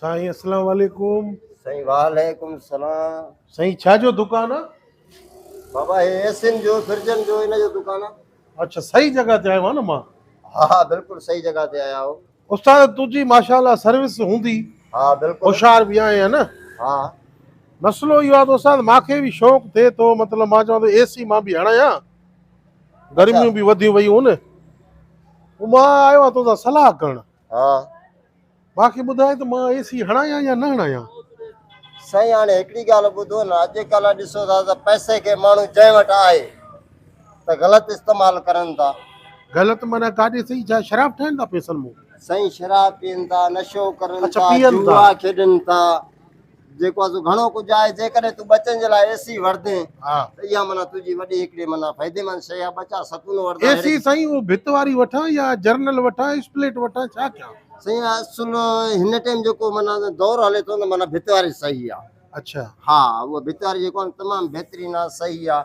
سائين اسلام عليڪم سائين وعليڪم سلام سائين ڇا جو دڪان آ بابا هي ايسين جو فرجن جو ان جو دڪان آ اچھا صحيح جگہ تي آيو آ نه مان ها ها بلڪل صحيح جگہ تي آيا آهو استاد تنهنجي ماشاءالله سروس هوندي ها بلڪل هوشيار به آهي نه ها مسئلو اهو آ ته استاد ماکي به شوق ٿئي ٿو مطلب مان چوان ٿو اي سي مان به هڻايان گرميون به وڌيون ويون آهن مان آيو آهيان تنهنجا صلاح ڪرڻ ها. ڀاء کي ٻڌاء ته مان اي سي هڻايان يا نه هڻايان. سائين هاڻي هڪڙي ڳالهه ٻڌو نه اڄ ڪلهه ڏسو ٿا ته پئسي کي ماڻهو جنهن وٽ آهي ته غلط استعمال ڪرن ٿا. غلط معنيٰ ڪاڏي سهي ڇا شراب ٺاهين ٿا پئسن مون. سائين شراب پين ٿا نشو ڪرن ٿا جوا کيڏن ٿا جيڪو آهي سو گهڻو ڪجهه آهي، جيڪڏهن تون ٻچن جي لاء اي سي وڙهندين ته اها معنيٰ تنهنجي وڏي هڪڙي معنيٰ فائديمند شيء آهي، ٻچا ستون وڙهندا اي سي سائين اهو ڀت واري وٺان يا جرنل وٺان اسپليٽ وٺان ڇا ڪيان؟ سائين اصل هن ٽيم جيڪو معنيٰ دور هلي ٿو نه معنيٰ ڀت واري صحيح آهي اڇا ها اهو ڀت واري جيڪو آهي تمام بهترين آهي صحيح آهي.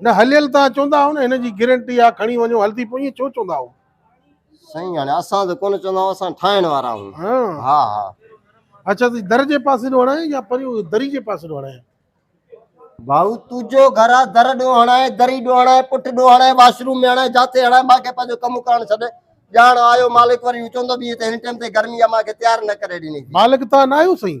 نه هليل تان چوندا هئو نه هن جي گرنٽي آ کڻي وڃو هلدي پو ايئن ڇو چوندا هئو. سائين هاڻي اسان ته ڪونه چوندا آهيون اسان ٺاهڻ وارا آهيون ها ها. اچا تون در جي پاسي ڏو هڻائين يا پريون دري جي پاسي ڏو هڻائين. ڀائو تنهنجو گهر آ در ڏو هڻائين دري ڏو هڻائين پٺ ڏو هڻائين واش روم ۾ هڻائين جاٿي هڻائين مان کي پنهنجو ڪم ڪرڻ ڇڏ ڄاڻ آيو مالڪ وري هو چوندو به هي ته هن ٽيم تي گرمي آ مان کي تيار نه ڪري ڏني ٿي. مالڪ تان نه آهيو سائين.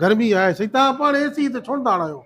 گرمي آهي سائين توهان پاڻ اي سي تي ڇونه ٿا هڻايو.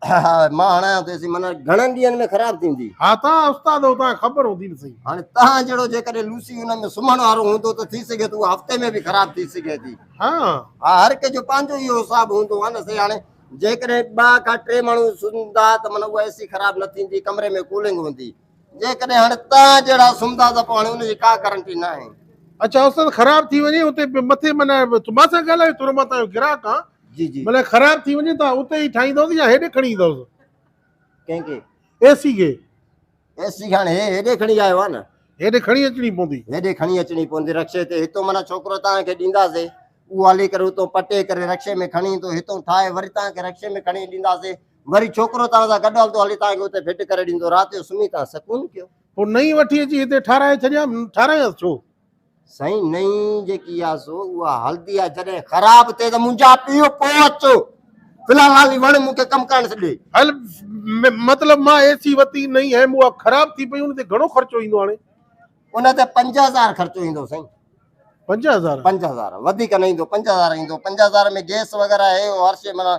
ها مان هڻايان ٿو اي سي معنيٰ گهڻن ڏينهن ۾ خراب ٿيندي. ها توهان استاد آهيو توهان کي خبر هوندي نه سائين. هاڻي توهان جهڙو جيڪڏهن لوسي ان ۾ سمهڻ وارو هوندو ته ٿي سگهي ٿو اها هفتي ۾ به خراب ٿي سگهي ٿي. ها ها هر ڪنهن جو پنهنجو اهو حساب هوندو آهي نه سائين هاڻي جيڪڏهن ٻه کان ٽي ماڻهو سمهندا ته معنيٰ اها اي سي خراب نه ٿيندي ڪمري ۾ ڪولنگ هوندي. جيڪڏهن هاڻي توهان جهڙا سمهندا ته پوء هاڻي ان جي ڪا گارنٽي ناهي. اچا استاد خراب ٿي وڃي اتي مٿي معنيٰ مان سان ڳالهايو ٿورو مان تنهنجو گراهڪ آهان جي جي معنيٰ خراب ٿي وڃي ته اتي ئي ٺاهيندوس يا هيڏي کڻي ايندوس ڪنهن کي اي سي کي اي سي کي هاڻي هي هيڏي کڻي آيو آهي نه هيڏي کڻي اچڻي پوندي هيڏي کڻي اچڻي پوندي رڪشي تي هتو معنيٰ ڇوڪرو توهان کي ڏينداسي اهو هلي ڪري اتو پٽي ڪري رڪشي ۾ کڻي ايندو هتو ٺاهي وري توهان کي رڪشي ۾ کڻي ڏينداسي وري ڇوڪرو توهان سان گڏ هلندو، هلي توهان کي اتي ڦٽ ڪري ڏيندو، رات جو سمهي توهان سڪون ڪيو. پوء نئين وٺي اچي هتي ٺاراهي ڇڏيام، ٺاراهيس ڇو؟ سائين نئين جيڪي آهي سو اها هلندي آهي، جڏهن خراب ٿئي ته منهنجا پيو پوء اچو، في الحال هالي وڻ مون کي ڪم ڪرڻ ڏي. هل مطلب مان اي سي وتي نئين هيم اها خراب ٿي پئي ان تي گهڻو خرچو ايندو هاڻي؟ ان تي پنج هزار خرچو ايندو سائين. پنج هزار؟ پنج هزار وڌيڪ نه ايندو، پنج هزار ايندو، پنج هزار ۾ گيس وغيره هي هو هر شي معنيٰ.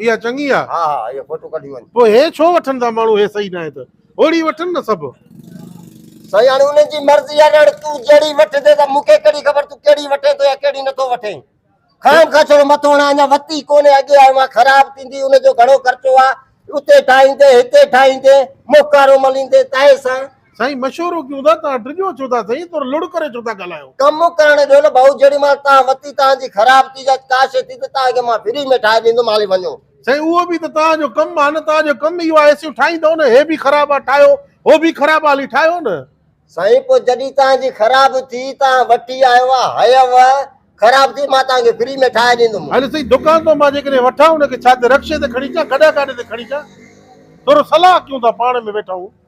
اها چڱي آ ها ها اهي فوٽو ڪڍي وڃ پوء هي ڇو وٺن ٿا ماڻهو هي صحيح ناهي ته اوڙي وٺن نه سڀ. سائين هاڻي انهن جي مرضي آ نه هاڻي تون جهڙي وٺندين ته مون کي ڪهڙي خبر تون ڪهڙي وٺين ٿو يا ڪهڙي نٿو وٺين خام خواهه ڇڙو مٿو هڻان اڃا وتي ڪونهي اڳي آيو آهيان خراب ٿيندي ان جو گهڻو خرچو آ اتي ٺاهيندين هتي ٺاهيندين موڪارو مليندين تاهي سان سائين مشورو ڪيون ٿا توهان ڊڄو ڇو ٿا سائين تور لڙ ڪري ڇو ٿا ڳالهايو. ڪم ڪرڻ ڏيو نه ڀائو جيڏي مهل توهان وتي توهان جي خراب چيز اچ ڪاشي ٿي ته توهان کي مان فري ۾ ٺاهي ڏيندم هلي وڃو. سائين اهو به ته توهان جو ڪم آهي نه توهان جو ڪم اهو آهي ايسيون ٺاهيندؤ نه هي به خراب آ ٺاهيو هو به خراب آ هلي ٺاهيو نه. سائين پوء جڏهن توهان جي خراب ٿي توهان وٺي آيو آ هيئو خراب ٿي مان توهان کي فري ۾ ٺاهي ڏيندم. هل سائين دڪان تان مان جيڪڏهن وٺان ان کي ڇا تي رڪشي تي کڻي اچان گڏهه گاڏي تي کڻي اچان ٿورو صلاح ڪيون ٿا پاڻ ۾ ويٺا آهيون.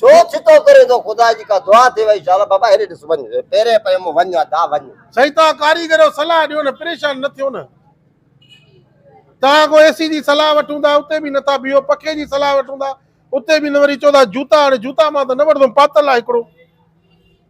ڇو ڇتو ڪرين ٿو خدا جي ڪا دعا ٿي وئي شالا بابا هيڏي ڏس وڃ پيرين پئي مون وڃ ادا وڃ. سائين توهان ڪاريگرو صلاح ڏيو نه پريشان نه ٿيو نه توهان اڳو اي سي جي صلاح وٺون ٿا اتي به نٿا بيهو پکي جي صلاح وٺون ٿا اتي به نه وري چئو ٿا جوتا هاڻي جوتا مان ته نه وٺندم پاتل آهي هڪڙو.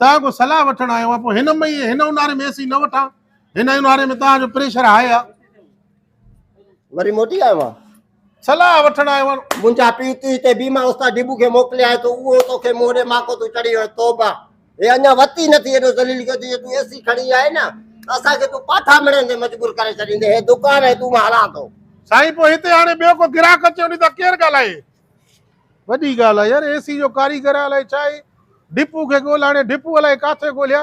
توهان کان صلاح وٺڻ آيو آهيان پوء هن مئي ۽ هن اونهاري ۾ اي سي نه وٺان هن اونهاري ۾ توهان جو پريشر هاء آهي وري موٽي آيو آهيان صلاح وٺڻ آيو آهيان منهنجا پيء تون هتي بيما استاد ڊبو کي موڪليائين ٿو اهو توکي منهن ڏي ماڪو تون چڙهي ويو توبه هي اڃا وت ئي نٿي ايڏو ذليل ڪيو اٿئي جو تون اي سي کڻي آئي نه ته اسان کي تون پاٺا مڙهڻ تي مجبور ڪري ڇڏيندين هي دڪان ۽ تون مان هلان ٿو سائين پوء هتي هاڻي ٻيو ڪو گراهڪ اچي وڃي ته ڪير ڳالهائي وڏي ڳالهه آ يار اي سي جو ڪاريگر آ الائي ڇا اي ڊپو کي ڳولهه هاڻي ڊپو الائي ڪاٿي ڳولهيا.